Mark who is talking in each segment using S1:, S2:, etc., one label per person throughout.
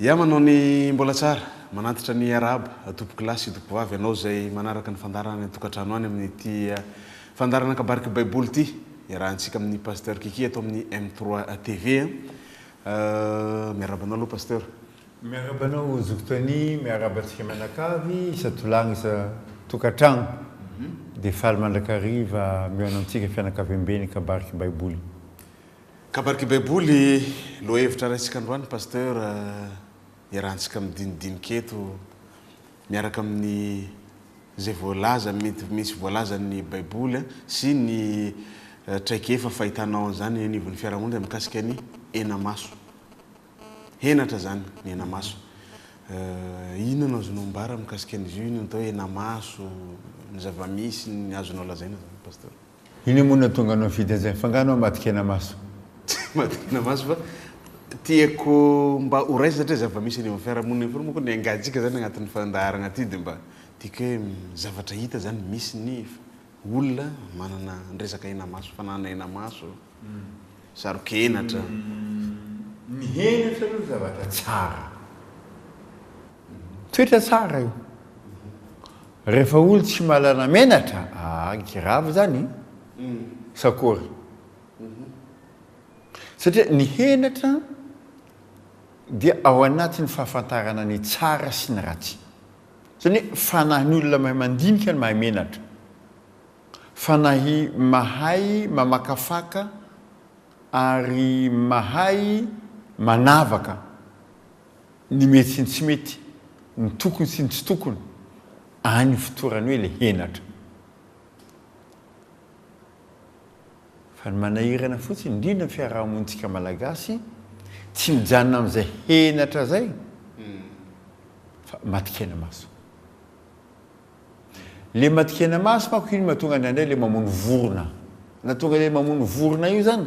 S1: Ya manao ny mbola tsara. Manantitra ny arahaba tompoko lahy sy tompoko vavy anao izay manaraka ny fandaharana any an-tokantrano any amin'ity fandaharana kabarik'i baiboly ity iarahantsika amin'i Pasteur Kiki eto amin'ny M trois TV a. Miarahaba anao aloha Pasteur. Miarahaba anao
S2: Zoky Tony, miarahaba antsika mianakavy isan-tolagna isan-tokantrano. Dia faly mandrakariva mihaona antsika fianakaviamben'ny kabarik'i baiboly. Kabariky baiboly
S1: lohahevitra raisika androany Pasteur iarahantsika midinidinika eto miaraka amin'ny izay voalaza mety misy voalazan'ny baiboly sy ny traikefa fahitanao an'izany eny anivon'ny fiarahamonina mikasika ny henamaso. Henatra izany ny henamaso. Inona no azonao ambara mikasika an'izy io, inona ny atao hoe henamaso, ny zava-misy, ny azonao lazaina izany Pasteur? Inona moa no
S2: nahatonga anao nifidy
S1: an'izay
S2: mifangano an madikena maso. Tsy madikena
S1: maso fa
S2: tiako
S1: mba ho raisina satria zava-misy eny amin'ny fiarahamonina eny foana moa koa ny engantsika zany agnatin'ny fandaharagna ty de mba tiako hoe zavatra hita zany misy ny olona manana resaka hena maso fananana hena maso sarokenatra.
S2: Ny henatra aloha zavatra tsara. Toetra tsara io. Rehefa olo tsy malana menatra ah grave zany e. Sa akory? Satria ny henatra dia ao anatin'ny fahafantarana ny tsara sy ny ratsy. Zany hoe fanahin'ny olona mahay mandinika ny mahay menatra. Fanahy mahay mamakafaka ary mahay manavaka. ny mety sy ny tsy mety, ny tokony sy ny tsy tokony, any ifotorany hoe ilay henatra. Fa ny manahirana fotsiny, indrindra ny fiaraha-monintsika Malagasy, tsy mijanona amin'izay henatra izay fa matikenamaso. Ilay matikenamaso manko iny mahatonga anay indray ilay mamono vorona. Na tonga ilay mamono vorona io izany,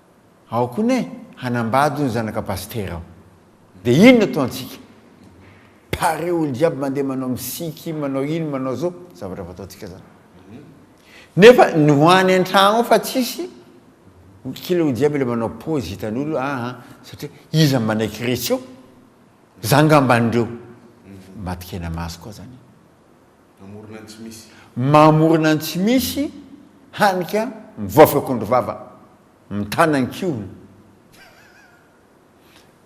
S2: Ao koa ne hanambady ny zanaka pasitera ao. Dia inona to antsika? Pare olo jiaby mandeha manao misiky, manao ino manao zao, zavatra fataontsika zany. Nefa ny ho any antragno ao fa tsisy kila olo jiaby le manao pause hitan'olo aa satria iza manaiky resy eo? Za ngamba an'ireo maty kena maso koa zany. Mamorona ny tsy misy. Mamorona ny tsy misy, hany ka mivaofy akondro vava, mitana ny kihony.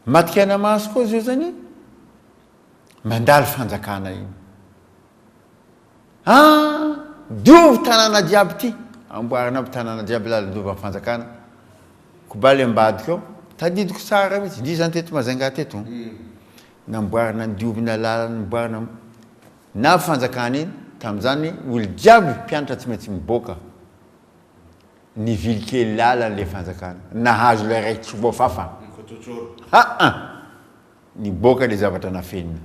S2: Maty kaina maso koa zio zany mandalo fanjakana iny. Ah! Diovy tanàna jiaby ty, amboarina aby tanàna jiaby lalin-dovan'ny fanjakana. Ko ba le ambadika ao, tadidiko tsara mitsy, ndry zany teto Majunga teto, namboarina diovina lalana, namboarina. Na fanjakana iny tamin'izany ol jiaby mpiantra tsy maintsy miboaka nivily kely lalan le fanjakana nahazo lay ray tsobo fafa haa niboaka le zavatra nafenina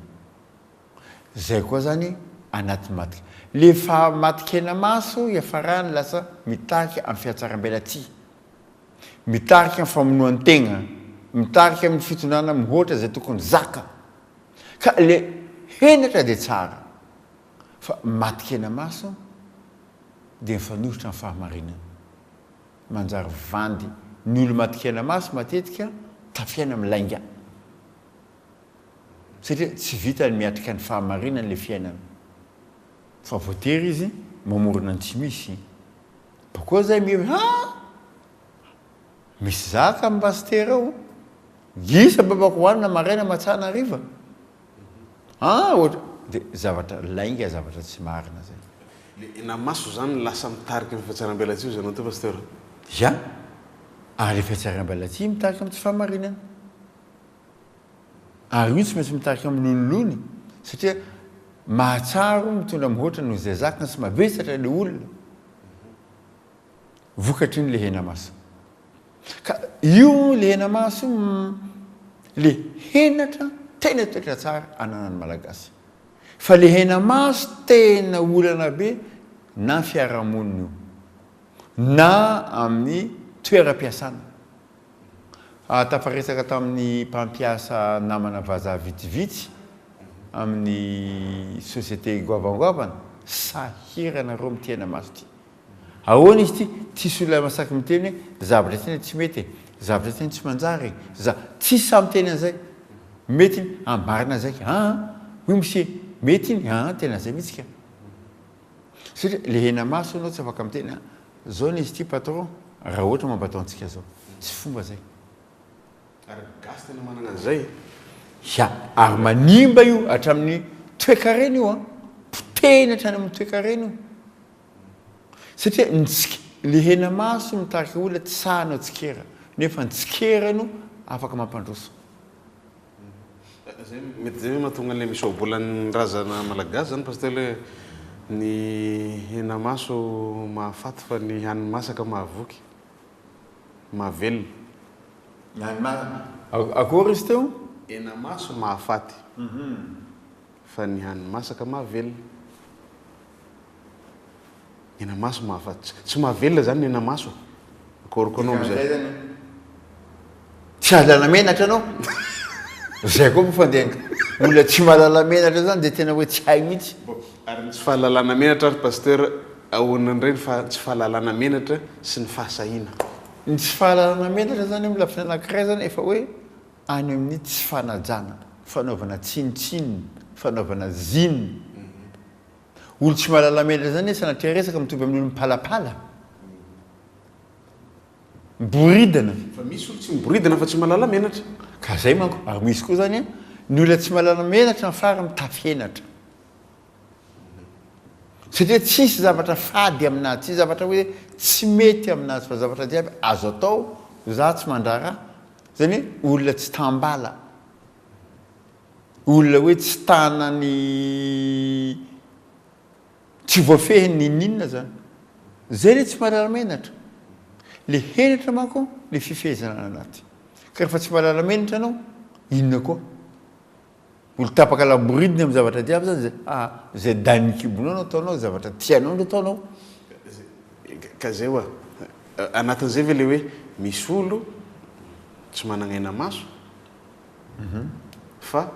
S2: zay koa zany anaty matika le fa matikena maso iafarany lasa mitarika am fiatsarambelatsihy mitarika am famonoan tegna mitarika am fitondrana mihoatra zay tokony zaka Ka le henatra de tsara fa maty kena maso de mifanohitra am fahamarinana. Manjary vandy ny olo maty kena maso matetika tafiaina am lainga. Satria tsy vitany miatrika ny fahamarinany le fiainana. Fa voatery izy mamorona ny tsy misy. Bakeo zay mihevitra ha! Misy zaka am pasitera ao gisa babako hoanina maraina matsana hariva aa ohatr de zavatra lainga zavatra tsy marina zay. Le na maso zany
S1: lasa mitarika am fiatsaram-belatsihy ozy anao teo pasteur. Ya,
S2: ary le fiatsaram-belatsihy mitarika am tsy fahamarinana. Ary io tsy maintsy mitarika am lonilony satria mahatsaro mitondra mihoatra noho izay zakany sy mavesatra le olona. vokatry ny lehenamaso. Ka io lehenamaso io no le henatra tena toetra tsara ananan'ny Malagasy. Fa lehenamaso tena olana be na fiarahamonina io, na amin'ny toeram-piasana. Tafaresaka tamin'ny mpampiasa namana vazaha vitsivitsy amin'ny société goavangoavana, sahirana reo amin'ity henamaso ity. Ahoana izy ity? Tsisy olona masaky miteny hoe zavatra ity no tsy mety e, zavatra ity no tsy manjary e, za. Tsisy sahy miteny an'izay. Mety iny, ambarina zay ka. Aa, oui monsieur, mety iny, aa tena zay mihitsy ka. Satria lehena maso ianao tsy afaka miteny a, zao no izy ity patron raha ohatra mampatao antsika zao. Tsy fomba zay. Ary
S1: ny gasy tena manana an'izay e. Ya,
S2: ary manimba io hatramin'ny toekarena io an, potehiny hatrany amin'ny toekarena io. Satria ny le henamaso mitarika olona tsy sahy hanao tsikera nefa ny tsikera no afaka mampandroso.
S1: Zay mety zay mahatonga anle misoabolan'ny razana malagasy zany pasteur le ny henamaso mahafaty fa ny hany masaka mahavoky, mahavelona. Ny hany akory
S2: izy teo? Henamaso
S1: mahafaty fa ny hany masaka mahavelona. Nenamaso mahafat tsy mahavelona zany nenamaso akoriko anao amizay
S2: tsy ahalala menatra anao zay koa moa fa de olona tsy mahalala menatra zany de tena hoe tsy hay mihitsy ary ny tsy fahalalana
S1: menatra ary pasteur ahoana indray ny fa tsy fahalalana menatra sy ny fahasahiana ny tsy
S2: fahalalana menatra zany amin'ny lafiny anankiray zany efa hoe any amin'ny tsy fanajana fanaovana tsinontsinona fanaovana zine Olo tsy mahalala menatra zany e sanatria resaka mitovy amin'ny olo mipalapala. Miboridana. Fa misy olo tsy
S1: miboridana fa tsy mahalala menatra. Ka zay manko,
S2: ary misy koa zany ny olona tsy mahalala menatra ny fara mitafy henatra. Satria tsisy zavatra fady aminazy, tsisy zavatra hoe tsy mety aminazy fa zavatra jiaby azo atao, za tsy mandrara, zany hoe olona tsy tambala. Olona hoe tsy tana ny tsy voafehiny n'inon'inona zany. Zay le tsy marary menatra. Le henatra manko le fifehezana any anaty. Ka refa tsy marary menatra anao, inona koa? Mbola tapaka laboridiny am zavatra jiaby zany zay. A! Zay dain'ny kibonao no ataonao, zavatra tianao no ataonao.
S1: Ka zay oa, anatin'izay ve le hoe misy olo tsy managna aina maso? fa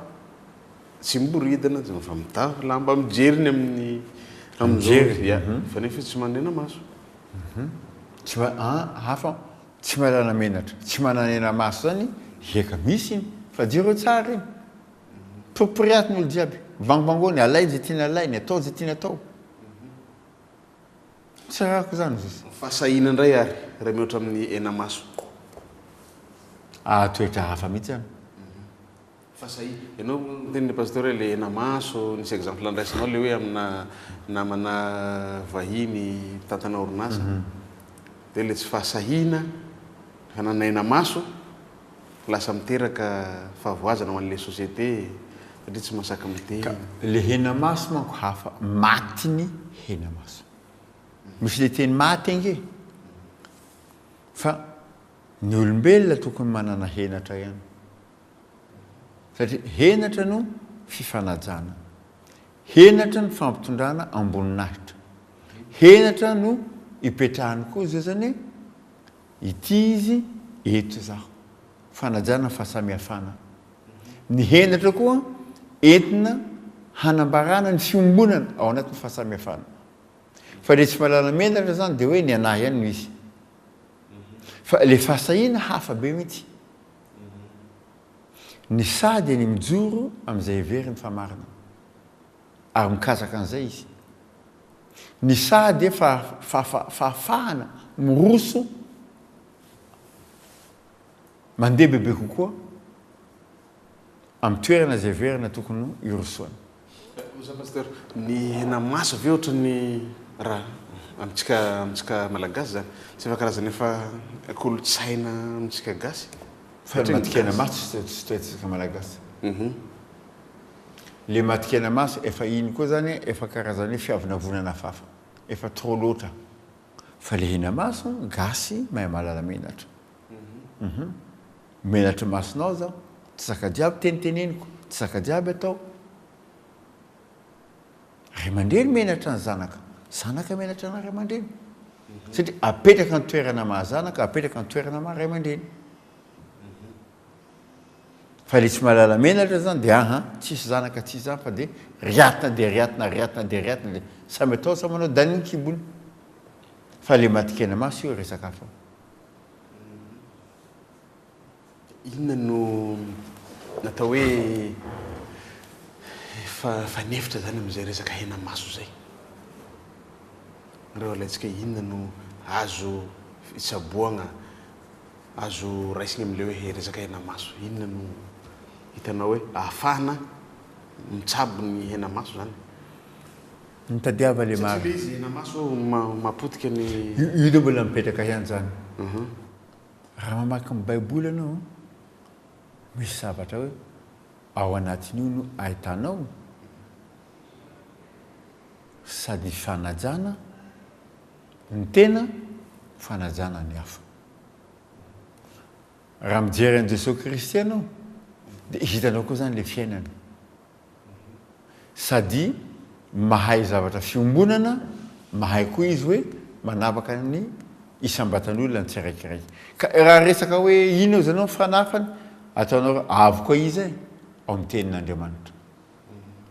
S1: tsy miboridana zany fa mitafy lamba mijery ny amin'ny amin'izao
S2: ya fa nefa izy tsy
S1: manena maso
S2: tsy ma a hafa tsy manana menatra tsy mananena maso zany eka misy iny fa jereo tsara iny poriporiato ny olo jiaby vangovangoany alay zay tiany alainy atao zay tiany atao Tsy ararako izany izy. Fahasahiana indray ary
S1: raha mihoatra amin'ny henamaso. Ah
S2: toetra hafa mihitsy an.
S1: Fahasahiana. Ianao miteny le pasteur hoe le henamaso, nisy exemple andraisanao le hoe amina namana vahiny mpitantana orinasa, dia le tsy fahasahiana hanana henamaso Lasa miteraka fahavoazana ho an'ilay société e, satria tsy masaky Ka miteny. le hena maso
S2: manko hafa, maty ny hena maso. Misy le teny maty ange e. Fa ny olombelona tokony manana henatra ihany. Satria henatra no fifanajana. Henatra ny fampitondrana amboninahitra. Henatra no ipetrahany koa zazany e. Ity izy eto izaho. Fanajana ny fahasamihafana. Ny henatra koa entina hanambarana ny fiombonana ao anatin'ny fahasamihafana. Fa ilay tsy mahalala menatra izany dia hoe ny anah ihany no izy. Fa ilay fahasahiana hafa be mihitsy. Ny sahy dia ny mijoro amin'izay heveriny fa marina. Ary mikazaka an'izay izy. Ny saha dia fahafahana miroso mandeha bebe kokoa amin'ny toerana izay heverina tokony hirosoana. Kosa Pasteur,
S1: ny hena maso ve ohatran'ny raha amintsika amintsika Malagasy izany? Tsy efa karazana efa kolontsaina amintsika Gasy? Fa ny matin-kena
S2: maso tsy toy antsika Malagasy. Le matikena maso efa iny koa zany efa karazany hoe fiavonavonana afafa efa trop loatra fa le hena maso gasy mahay mahalala menatra uhum menatry masonao zaho tsy zaka jiaby teniteneniko tsy zaka jiaby atao ray aman-dreny menatra ny zanaka zanaka menatra ana ray aman-dreny satria apetraka ny toerana maha zanaka apetraka ny toerana maha ray aman-dreny uhum Fa ilay tsy mahalala menatra zany dia aha, tsisy zanaka tsisy zany fa dia riatina dia riatina, riatina dia riatina le samy atao samy manao dany ny kibony. Fa le matin-kena maso io resaka hafa.
S1: Inona no natao hoe efa fanefitra zany amin'izay resaka hena maso zay? Nareo alaintsika inona no azo fitsaboagna? Azo raisina amin'ilay hoe resaka henamaso. Inona no hitanao hoe ahafahana mitsabo ny henamaso izany?
S2: Mitadiava ilay marina. Satria ilay izy henamaso
S1: mapotika ny. Io aloha mbola
S2: mipetraka ihany izany. Raha mamaky ny Baiboly ianao, misy zavatra hoe ao anatin'io no ahitanao sady ny fanajana ny tena, fanajana ny hafa. Raha mijery an'i Jesoa Kristy ianao dia hitanao koa zany le fiainana. Sady mahay zavatra fiombonana, mahay koa izy hoe manavaka ny isam-batan'olona ny tsiraikiraiky. Ka raha resaka hoe inona ozy ianao ny fanafany, ataonao hoe avy koa iza e? Ao amin'ny tenin'Andriamanitra.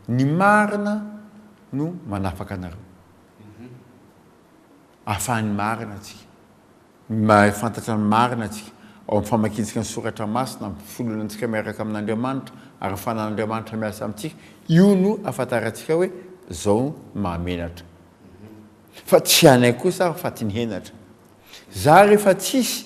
S2: Ny marina no manafaka anareo. ahafahan'ny marina antsika, mahafantatra ny marina antsika ao amin'ny famakiantsika ny soratra masina, amin'ny fifololantsika miaraka amin'Andriamanitra ary ny fanan'Andriamanitra miasa amintsika, io no ahafantarantsika hoe izao ny mahamenatra fa tsy anay kosa aho fa ty ny henatra, za rehefa tsisy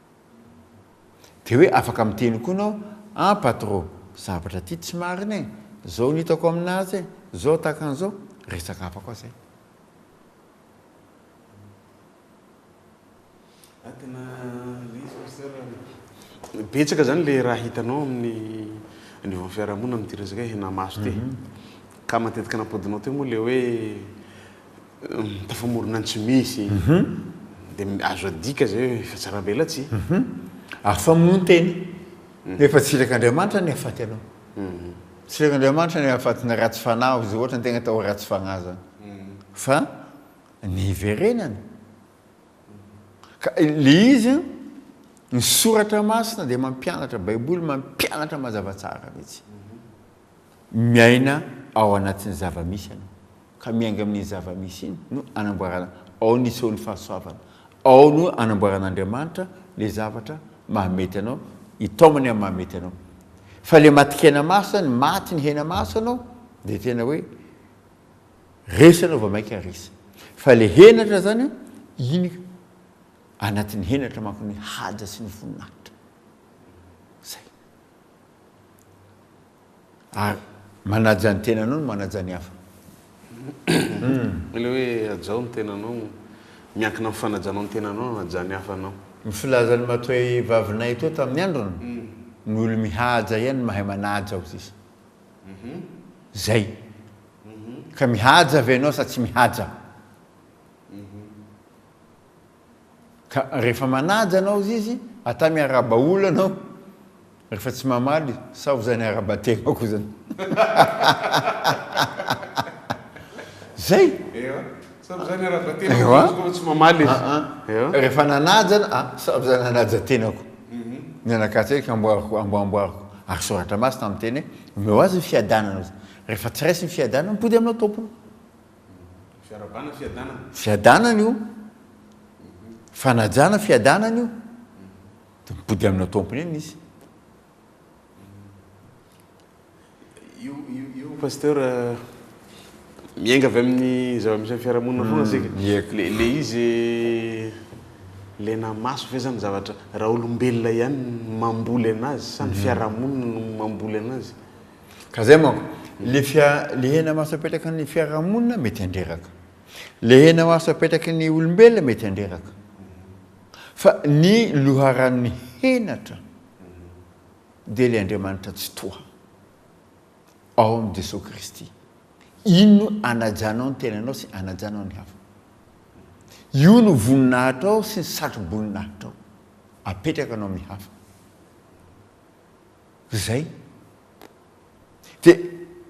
S2: Dia hoe afaka miteny koa nao an patro zavatra ty tsy marina e zao no hitako aminazy e zao tahaka anzao resaka hafa koa zay. Atina
S1: lesy Pasteur a. Betsaka zany le raha hitanao amin'ny anivon'ny fiarahamonina amin'ity resaka hoe henamaso ity. Ka matetika nampodinao teo moa le hoe Tafamorona ny tsy misy. Mhm. Dia azo adika zay hoe efa tsarambelatsihy. Mhm. Afa
S2: moa ny tena. Mhm. Nefa tsiraka Andriamanitra ny hafaty anao. Mhm. Tsiraka Andriamanitra ny hafatina ratsy fanahy aho izay ohatra ny tegna tao ratsy fagnahy zany. Mhm. Fa ny hiverenana. Ka le izy an, ny soratra masina dia mampianatra, baiboly mampianatra mazava tsara mitsy. Mhm. Miaina ao anatin'ny zava-misy ianao, ka miainga amin'iny zava-misy iny no anamboarana, ao no isehoan'ny fahasoavana, ao no anamboaran'Andriamanitra ilay zavatra mahamety anao, hitaomany amin'ny mahamety anao. Fa ilay matin-kena maso izany, maty ny hena maso ianao, dia tena hoe resy ianao vao mainka resy. Fa ilay henatra izany, iny anatin'ny henatra manko ny haja sy ny voninahitra. Izay. Ary manaja ny tenanao no manaja ny hafa.
S1: Ilay hoe hajao ny tenanao, miankina amin'ny fanajanao ny tenanao no hanajan'ny hafa anao. Ny filazan'ny matoa
S2: vavinay teo tamin'ny androny, ny olo mihaja ihany no mahay manaja hoy izy. Zay. Ka mihaja ve ianao sa tsy mihaja? Ka rehefa manaja anao izy, ata miarahaba olona anao rehefa tsy mamaly sa ho zany arahaba tena koa zany. Zay. Ewa, sa ho zany arahaba tena koa zany
S1: rehefa tsy mamaly izy. Aa, rehefa
S2: nanaja anao, aa, sa ho zany hanaja tena koa. Mianakatsa eky amboariko, ambo amboariko. Ary soratra masina miteny hoe, omeo azy ny fiadanana. Rehefa tsy raisiny ny fiadanana, mipody aminao tompony. Fiaravana, fiadanana. Fiadanana io. Fanajana, fiadanana io. Dia mipody amina tompony eny izy.
S1: Io, io, io pasteur miainga avy amin'ny zava-misy amin'ny fiarahamonina foana hmm, isika. Le, le izy le namaso ve zany zavatra raha olombelona ihany mamboly anazy sa ny hmm. fiarahamonina no mamboly anazy? Ka zay manko,
S2: le fia, le hena maso apetraky ny fiarahamonina mety handreraka. Le hena maso apetraky ny olombelona mety handreraka. Fa ny loharanon'ny henatra dia ilay Andriamanitra Tsitoha ao amin'i Jesoa Kristy. Iny no anajanao ny tenanao sy anajanao ny hafa. Io no voninahitrao sy ny satro-boninahitrao apetrakanao amin'ny hafa. Ry zay. Dia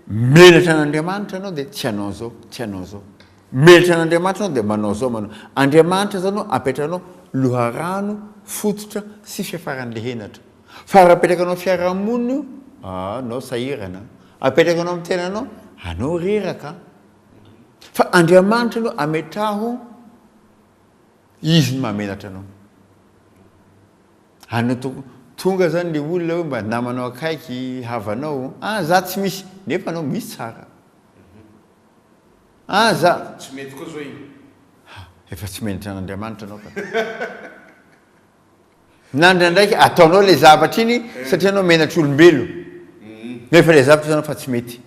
S2: menatra an'Andriamanitra ianao dia tsy hanao zao, tsy hanao zao. Menatra an'Andriamanitra ianao dia manao zao, manao. Andriamanitra zao no apetrahanao loharano, fototra sy fiafaran'ilay henatra. Fa raha apetrakanao amin'ny fiarahamonina io, ah, anao sahirana. Apetrakanao amin'ny tenanao, anao reraka. Fa Andriamanitra no ametraho, Izy no mahamenatra anao. Any to tonga zany le olona hoe mba namanao akaiky, havanao, ah za tsy misy, nefa anao misy tsara,
S1: ah za, Tsy mety koa zao
S2: iny.
S1: Ha,
S2: efa tsy menatra an'Andriamanitra anao ka. Na ndraindraiky ataonao le zavatra iny satria anao menatr'olombelo, nefa le zavatra hitanao fa tsy mety.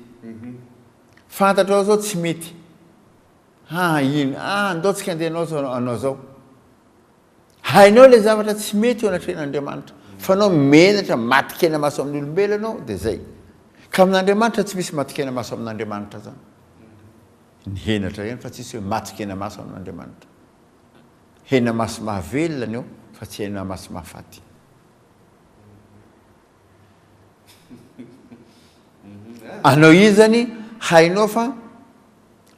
S2: Fantatrao izao tsy mety, ah iny, ah ndao tsika andeha hanao zao, hanao zao. Hainao ilay zavatra tsy mety eo anatrehan'Andriamanitra, fa anao menatra maty kena maso amin'ny olombelona anao dia zay. Ka amin'Andriamanitra tsy misy maty kena maso amin'Andriamanitra zany. Ny henatra ihany fa tsisy hoe maty kena maso amin'Andriamanitra. Hena maso mahavelona ny eo fa tsy hena maso mahafaty. Anao io zany hainao fa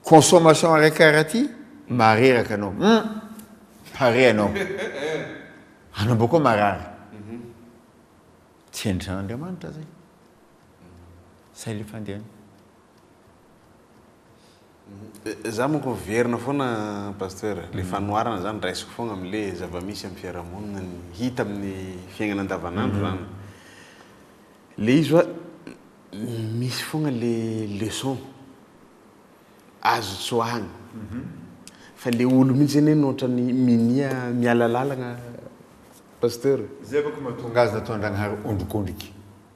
S2: consommation araiky karaha ty mareraka anao hum pare anao anao boko marary tsy hendrana Andriamanitra zay zay le fandehany.
S1: Za manko miverina foana Pasteur, le mm. fanoharana zany raisiko foana amle zavamisy am fiarahamonina ny hita amin'ny fiaignana andavanandro mm-hmm. zany. Le izy oa misy foana le leçon azo tsoahana. Mm-hmm. Fa le olo mihitsy anie no otrany minia mialalalagna Pasteur. Zay manko
S2: mahatonga azy nataon'Andragnahary ondrikondriky.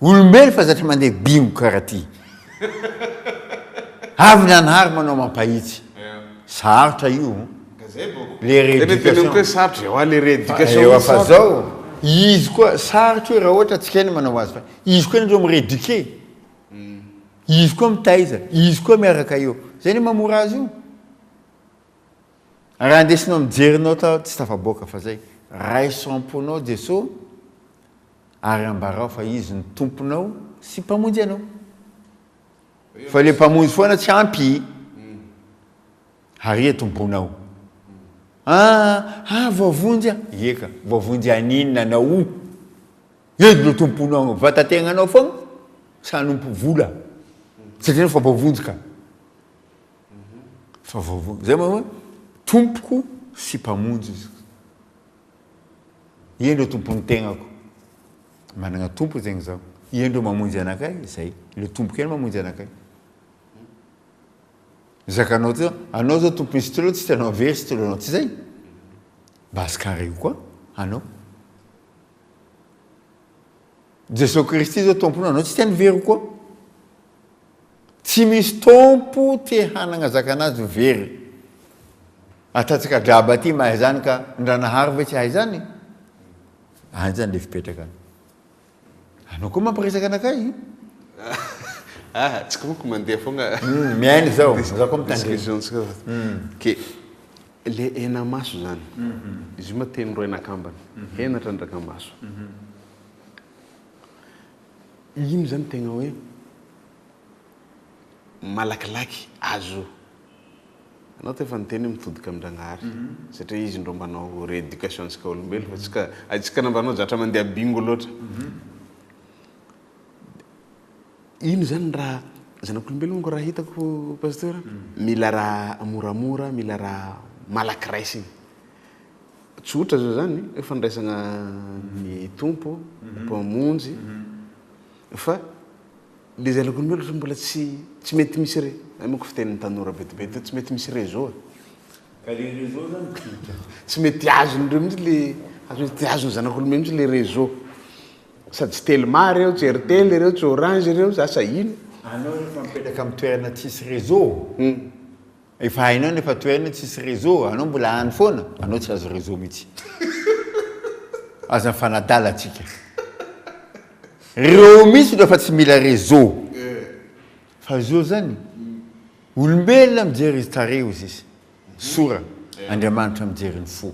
S2: Olombelo fa zatra mandeha bingo karaha ty. Avy nanary manao mampahitsy. Sarotra io an. Le reeducation. Ewa
S1: fa zao
S2: izy koa sarotra io raha ohatra tsy kena manao azy fa izy koa nareo mi-reduquer. Izy koa mitaiza, izy koa miaraka eo. Zay ne mamora azy io. Raha ndesinao mijery nao tao tsy tafaboaka fa zay. Raiso am-ponao Jesoa. Ary ambarao fa Izy no Tomponao sy Mpamonjy anao. Fa ilay Mpamonjy foana tsy ampy. Ary eto ny bonao. Ah, ah, voavonjy aho. Ie ka, voavonjy haninona anao o? Eto no Tomponao, vatategnanao foana sa hanompo vola? Satria anao fa voavonjy ka. Fa voavonjy. Zay moa, Tompoko sy Mpamonjy Izy. Ie ndreo tompon'ny tegnako. Managna tompo zegny zaho. Ie ndreo mamonjy anakay, zay. Le tompoko ihany mamonjy anakay. Zakanao ty zao, anao zao tompon'ny stylo, tsy tianao very stylo anao, tsy zay? Base carré koa anao. Jesoa Kristy zao Tompona anao tsy te ny very koa. Tsy misy Tompo te hanagna zakanazy ho very. Atatsaka draba ty mahay zany ka Ndranahary ve tsy hahay zany? Any zany le fipetraka any. Anao koa mampiresaka anakay. Ah,
S1: tsy komiko mandeha fogna. Mihaino zao,
S2: za koa mitandrema. Excusons. Ok.
S1: Le hena maso zany. Izy io ma teny roa hena kambana. Hena trandraka maso. Iny zany tegna hoe malakilaky azo. Anao te efa niteny hoe mitodika amin-dragnahary. Satria izy ndro manao rééducation antsika olombelo fa tsy ka aitsika nambanao zatra mandeha bingo loatra. Ino zany raha zanak'olombelonako raha hitako pasteur mila raha moramora mila raha malaky raisiny tsotra zao zany hoe fandraisana ny tompo mhm. mpamonjy mhm. fa le zanak'olombelona fa mbola tsy tsy mety misy re amiko fitenin'ny tanora betibety tsy mety misy réseau ka le
S2: réseau zany tsy mety
S1: azon'ireo mihitsy le tsy azon'ny zanak'olombelona mihitsy le réseau Asa tsy telma reo, tsy airtel reo, tsy orange reo, asa ino? Anao rehefa mipetraka
S2: am toerana tsisy réseau, efa hainao ny efa toerana tsisy réseau, anao mbola any foana, anao tsy azo réseau mihitsy. Aza mifanadala atsika. Reo mihitsy no efa tsy mila réseau. Fa zo zany, olombelona mijery tarehy ozizy, sora, Andriamanitra mijery ny fo.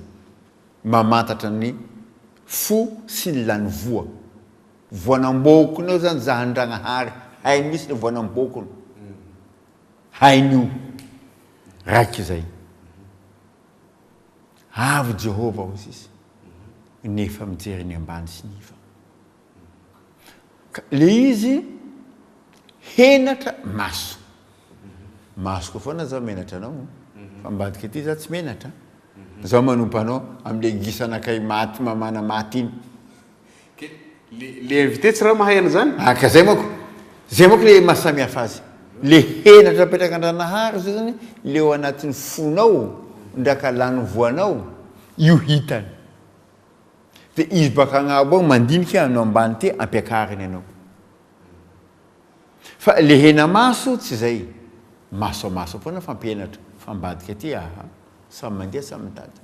S2: mamantatra ny fo sy ny lany voa voanamboakona eo zany za Andragnahary hainy mihitsy ny voanamboakona hainy io raika izay avy Jehovah hoy izy nefa mijery ny ambany sy ny iva. Ka le izy henatra maso. Masoko foana zao menatra anao. Fa ambadika aty za tsy menatra. Zao manompa anao amle gisana kay maty mamana maty iny. Ke
S1: le le invité tsy ra mahay an'zany? Ah ka zay manko.
S2: Zay manko le maha samy hafa azy. Le henatra apetrak'Andranahary zay zany le ao anatin'ny fonao ndra ka lany voanao io hitany. Dia izy baka agnabo agny mandinika hoe anao ambany ty ampiakariny anao. Fa le hena maso tsy zay. Maso a maso foana fampianatra fa ambadika ty aha samy mandeha samy mitady.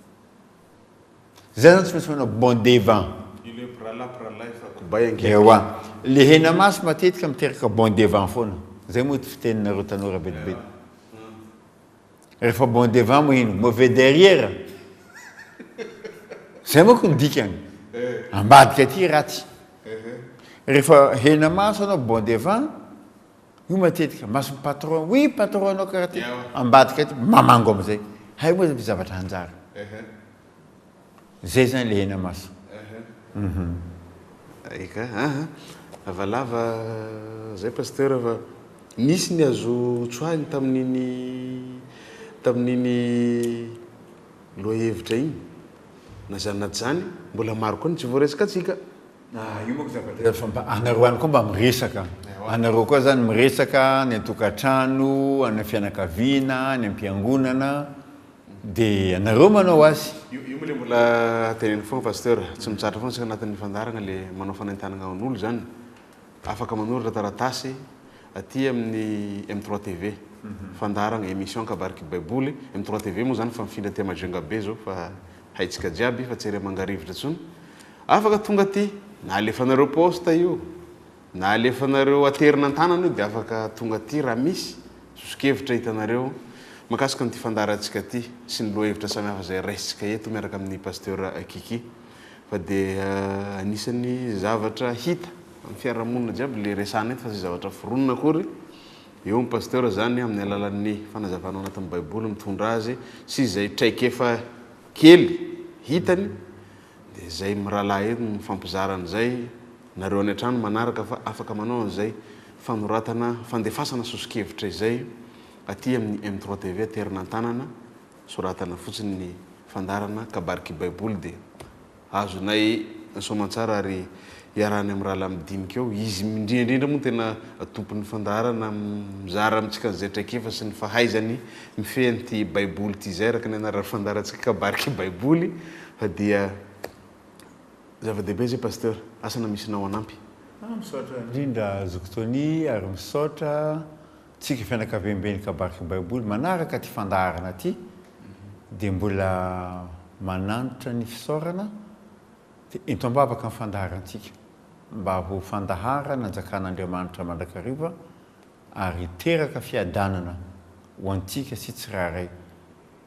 S2: Zay zany tsy maintsy manao bon devant. Ilay mpirahalahy mpirahalahy efa kobay ankehitriny. Ewa. Le hena maso matetika miteraka bon devant foana. Zay moa ty fiteninareo tanora be dia be. Rehefa bon devant moa ino? Mauvais derrière? Zay manko ny dikany. Ambadika aty ratsy. Rehefa hena maso anao bon devant, io matetika mason'ny patron, oui patron anao karaha ty, ambadika aty mamango amizay. Hay moa zavatra hanjary. Zay zany le hena maso.
S1: Ahh eka ahh lavalava zay pasteur fa nisy ny azo tsoahiny tamin'iny tamin'iny lohahevitra iny na zany na tsy zany mbola maro koa ny tsy voaresakatsika. Ahh io manko
S2: zava-dresaky fa mba anareo any koa mba miresaka anareo koa zany miresaka any an-tokantrano any am-fianakaviana any am-piangonana Dia ianareo manao azy. Io io le mbola
S1: teneno foagna pasteur, tsy mitsatra foagna isika agnatin'ny fandaharagna le manao fanentanagna an'olo izany, afaka manoratra taratasy aty amin'ny M trois TV, fandaharagna emission Kabariky Baiboly, M trois TV moa zany fa mifindra aty Majunga be zao fa haintsika jiaby fa tsy ery amangarivotry intsony, afaka tonga aty na alefanareo poste io, Na alefanareo aterina an-tanana io dia afaka tonga aty raha misy sosokevitra hitanareo mahakasika an'ity fandaharantsika ity sy ny lohahevitra samihafa izay raisintsika eto miaraka amin'ny Pasteur Kiki fa dia anisan'ny zavatra hita amin'ny fiarahamonina jiaby ilay resahana eto fa tsy zavatra foronina akory. Eo ny Pasteur izany amin'ny alalan'ny fanazavana ao anatin'ny Baiboly mitondra azy sy izay traikefa kely hitany Dia zay miralaha eto no mifampizara an'izay nareo any an-trano manaraka fa afaka manao an'izay fanoratana fandefasana soso-kevitra izay aty amin'ny M trois TV aterina an-tanana soratana fotsiny ny fandaharana kabary kibaiboly dia azonay soamantsara ary iarahany amin'ny rahalahy midinika eo izy indrindra indrindra moa tena tompon'ny fandaharana mizara amintsika an'izay traikefa sy ny fahaizany mifehy an'ity baiboly ity izay araka ny anaran'ny fandaharantsika kabary kibaiboly Fa dia zava dehibe zay Pasteur, asa na misy nao hanampy. Ah misaotra
S2: indrindra zoky Tony ary misaotra tsika fianakaviamben'ny kabariky baiboly manaraka ty fandaharana ty dia mbola manantra ny fisaorana dia ento ambavaka ny fandaharantsika mba ho fandahara nanjakan'Andriamanitra mandrakariva ary hiteraka fiadanana ho antsika sy tsirairay